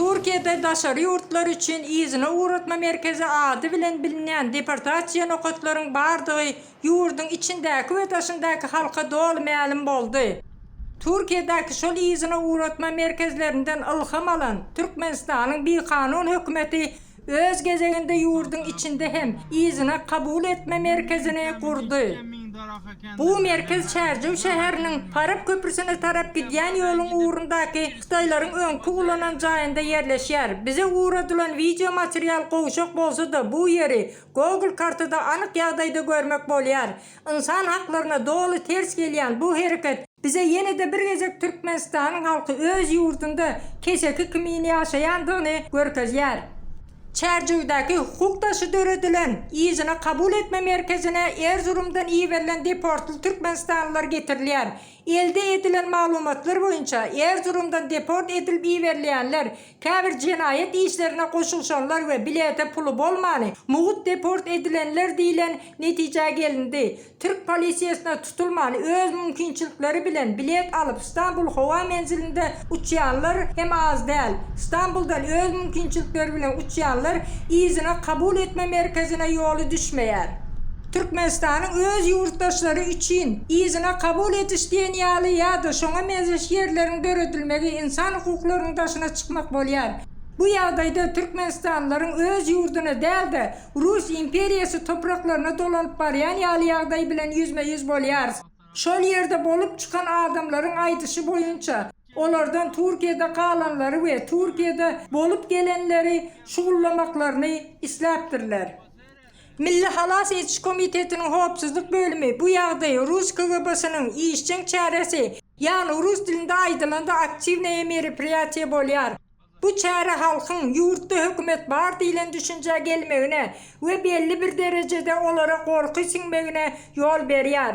Türkiýede daşary ýurtlar üçin yzyna ugratma merkezi ady bilen bilinýän deportasiýa nokatlaryň bardygy ýurduň içindäki we daşyndaky halka doly mälim boldy. Türkiýedäki şol yzyna ugratma merkezlerinden ylham alan Türkmenistanyň bikanun hökümeti Öz gezeginde ýurduň içinde hem yzyna kabul etme merkezini gurdy. Bu merkez Çärjew şäheriniň Farap köprüsine tarap gidýän ýoluň ugrundaky hytaýlaryň öňki ulanan jaýynda ýerleşýär. Bize ugradylan wideo material gowşak bolsa-da, bu ýeri Google kartada anyk ýagdaýda görmek bolýar. Ynsan haklaryna doly ters gelýän bu hereket bize ýene-de bir gezek Türkmenistanyň halky öz ýurdunda keseki kimin ýaşaýandygyny görkezýär. Çärjewdäki hukuk daşy döredilen yzyna kabul etme merkezine Erzurumdan iberilen deportly türkmenistanlylar getirilýär. Elde edilen maglumatlar boýunça, Erzurumdan deport edilip iberilýänler Käbir jenaýat işlerine goşulyşanlar we bilete puly bolmany mugt deport edilenler diýlen netijä gelindi. Türk polisiýasyna tutulmany öz mümkinçilikleri bilen bilet alyp Stambul howa menzilinde uçýanlar hem az däl. Stambuldan öz mümkinçilikleri bilen uçýanlar yzyna kabul etme merkezine ýoly düşmeýär. Türkmenistanyň öz ýurtdaşlary üçin yzyna kabul ediş diýen ýaly ýa-da şoňa meňzeş ýerleriň döredilmegi ynsan hukuklarynyň daşyna çykmak bolýar. Bu ýagdaýda türkmenistanlylaryň öz ýurduna däl-de, Rus imperiýasy topraklaryna dolanyp barýan ýaly ýagdaý bilen ýüzme-ýüz bolýarys. Şol ýerde bolup çykan adamlaryň aýdyşy boýunça, olardan Türkiýede galanlary we Türkiýede bolup gelenleri şugullamaklaryny isläpdirler. Milli halas ediş komitetiniň howpsuzlyk bölümi bu ýagdaýy rus KGB-siniň işjeň çäresi, ýagny rus dilinde aýdylanda aktiwnaýe meripriýatiýe bolýar. Bu çäre halkyň ýurtda hökümet bar diýlen düşünjä gelmegine we belli bir derejede olara gorky siňmegine ýol berýär.